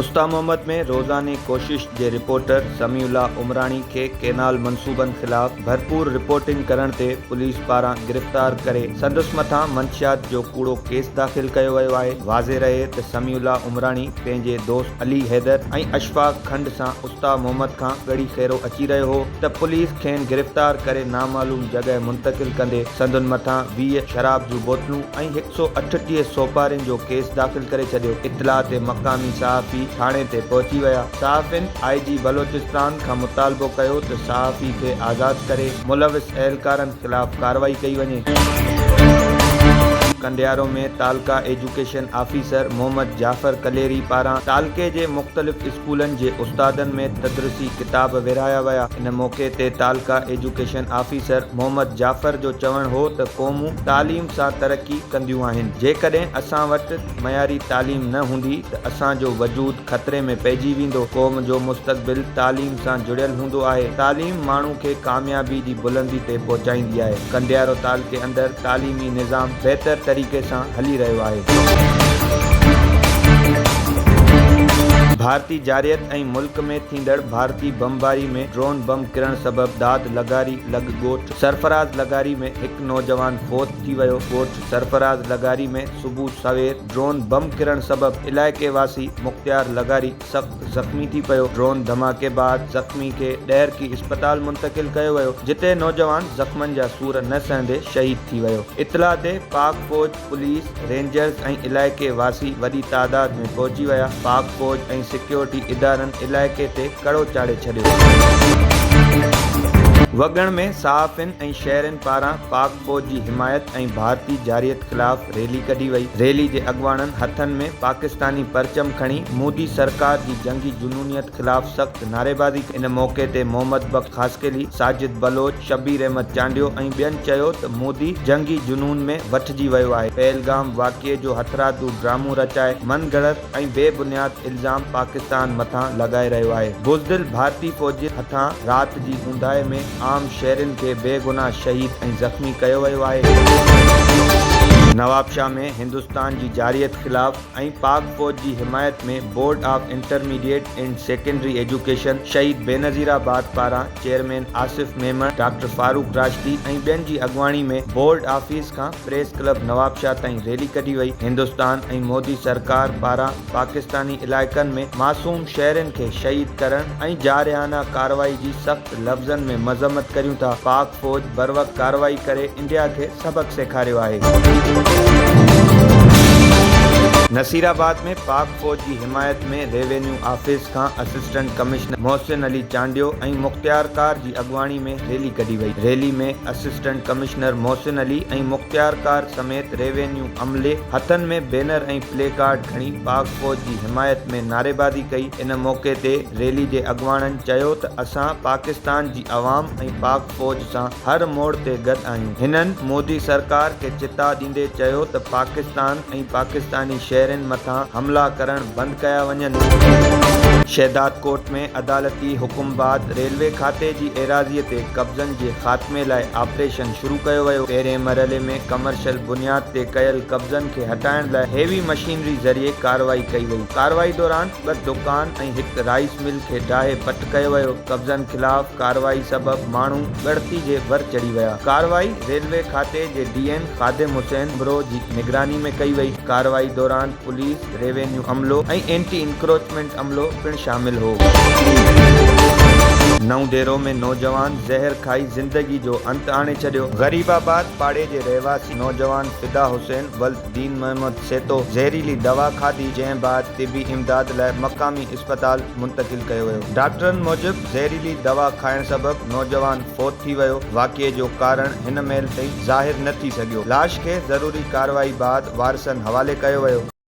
استا محمد ۾ روزاني ڪوشش جي رپورٽر سميع الله عمراڻي کي ڪينال منصوبن خلاف ڀرپور رپورٽنگ ڪرڻ تي پوليس پاران گرفتار ڪري سندس مٿان منشيات جو ڪوڙو ڪيس داخل ڪيو ويو آهي واضح رهي ته سميع الله عمراڻي پنهنجي دوست علي حيدر ۽ اشفاق کنڊ سان استا محمد کان ڳڙي خيرو اچي رهيو هو ته پوليس کين گرفتار ڪري نامعلوم جڳهه منتقل ڪندي سندن مٿان ويهه شراب جون بوتلون ۽ هڪ سؤ اٺٽيهه سوپارين جو ڪيس داخل ڪري ڇڏيو. اطلاع تي مقامي صحافي ٿاڻي تي پهچي ويا. صحافين آء جي بلوچستان کان مطالبو ڪيو ته صحافي کي آزاد ڪري ملوث اهلڪارن خلاف ڪارروائي ڪئي وڃي. ڪنڊيارو ۾ تعلقه ايجوڪيشن آفيسر محمد جعفر ڪليري پاران تعلقي جي مختلف اسڪولن جي استادن ۾ تدرسي ڪتاب ورهايا ويا. ان موقعي تي تعلقه ايجوڪيشن آفيسر محمد جعفر جو چوڻ هو ته قومون تعليم سان ترقي ڪنديون آهن، جيڪڏهن اسان وٽ معياري تعليم نه هوندي ته اسان جو وجود خطري ۾ پئجي ويندو، قوم جو مستقبل تعليم سان جڙيل هوندو آهي، تعليم ماڻهو کي ڪاميابي جي بلندي تي پهچائيندي آهي، ڪنڊيارو تعلقي اندر تعليمي نظام. بهتر طريقي سان هلي رهيو آهي. ڀارتي جارحيت ۽ ملڪ ۾ ٿيندڙ ڀارتي بمباري ۾ ڊرون بم ڪرڻ سبب داد لغاري لڳ ڳوٺ سرفراز لغاري ۾ هڪ نوجوان فوت ٿي ويو ڳوٺ سرفراز لغاري ۾ صبح سوير ڊرون بم ڪرڻ سبب علائقي واسي مختيار لغاري سخت زخمي ٿي پيو، ڊرون ڌماڪي بعد زخمي کي ڏهرڪي اسپتال منتقل ڪيو ويو، جتي نوجوان زخمن جا سور نه سهندي شهيد ٿي ويو، اطلاع تي پاڪ فوج، پوليس، رينجرز ۽ علائقي واسي وڏي تعداد ۾ پهچي ويا، پاڪ فوج ۽ سيڪيورٽي ادارن علائقي تي ڪڙو چاڙهي ڇڏيو. وڳڻ ۾ صحافين ۽ شهرين پاران پاڪ فوج جي حمايت ۽ ڀارتي جارحيت خلاف ريلي ڪڍي وئي، ريلي جي اڳواڻن هٿن ۾ پاڪستاني پرچم کڻي مودي سرڪار جي جنگي جنونيت خلاف سخت نعريبازي ڪئي، ان موقعي تي محمد بخش خاصخيلي، ساجد بلوچ، شبير احمد چانڊيو ۽ ٻين چيو ته مودي جنگي جنون ۾ وٺجي ويو آهي، پهلگام واقعي جو هٿرادو ڊرامو رچائي من گهڙت، ۽ بي بنياد الزام پاڪستان مٿان لڳائي رهيو آهي، بزدل ڀارتي فوجين هٿان رات جي اونداهي ۾ عام شهرين کي بيگناهه شهيد ۽ زخمي ڪيو ويو آهي. نوابشاهه ۾ هندستان جي جارحيت خلاف ۽ پاڪ فوج جي حمايت ۾ board of intermediate and secondary education Shaheed Benazirabad پاران، چيئرمين آصف ميمڻ، ڊاڪٽر فاروق راشدي ۽ ٻين جي اڳواڻي ۾ بورڊ آفيس کان پريس ڪلب نوابشاهه تائين ريلي ڪڍي وئي، هندستان ۽ مودي سرڪار پاران پاڪستاني علائقن ۾ معصوم شهرين کي شهيد ڪرڻ ۽ جارحانه ڪارروائي جي سخت لفظن ۾ مذمت ڪريون ٿا، پاڪ فوج بروقت ڪارروائي ڪري انڊيا کي سبق سيکاريو آهي. نصيرآباد ۾ پاڪ فوج جي حمايت ۾ ريونيو آفيس کان اسسٽنٽ ڪمشنر محسن علي چانڊيو ۽ مختيار ڪار جي اڳواڻي ۾ ريلي ڪڍي وئي، rally ۾ assistant commissioner Mohsin Ali ۽ مختيار ڪار سميت ريونيو عملي هٿن ۾ بينر ۽ پلي ڪارڊ کڻي پاڪ فوج جي حمايت ۾ نعريبازي ڪئي، ان موقعي تي ريلي جي اڳواڻن چيو ته اسان پاڪستان جي عوام ۽ پاڪ. فوج سان هر موڙ تي گڏ آهيون. هنن مودي سرڪار کي چتاء ڏيندي چيو ته پاڪستان ۽ پاڪستاني شهرين مٿان حملا ڪرڻ بند ڪيا وڃن. شهدادڪوٽ ۾ عدالتي حڪم بعد ريلوي کاتي جي ايراضي تي قبضن جي خاتمي لاء آپريشن شروع ڪيو ويو، پهرين مرحلي ۾ ڪمرشل بنياد تي ڪيل قبضن کي هٽائڻ لاء هيوي مشينري ذريعي ڪارروائي ڪئي وئي، ڪارروائي دوران. ٻه دڪان ۽ هڪ رائيس مل کي ڊاهي پٽ ڪيو ويو، قبضن خلاف ڪارروائي سبب ماڻهو ڳڻتي جي ور چڙهي ويا، ڪارروائي ريلوي کاتي جي ڊي ايم خادم حسين امروهه جي نگراني ۾ ڪئي وئي، ڪارروائي دوران پوليس، ريونيو عملو ۽ اينٽي انڪروچمينٽ عملو پڻ شامل هو. نئون ديرو ۾ نوجوان زهر کائي زندگي جو انت آڻي ڇڏيو. غريب آباد پاڙي جي رهواسي نوجوان فدا حسين ولد دين محمد، سيتو زهريلي دوا کاڌي جنهن بعد طبي امداد لاء مقامي اسپتال منتقل ڪيو ويو ڊاڪٽرن موجب زهريلي دوا کائڻ سبب نوجوان فوت ٿي ويو واقعي جو ڪارڻ هن مهل تائين ظاهر نه ٿي سگهيو لاش کي ضروري ڪارروائي بعد وارثن حوالي ڪيو ويو.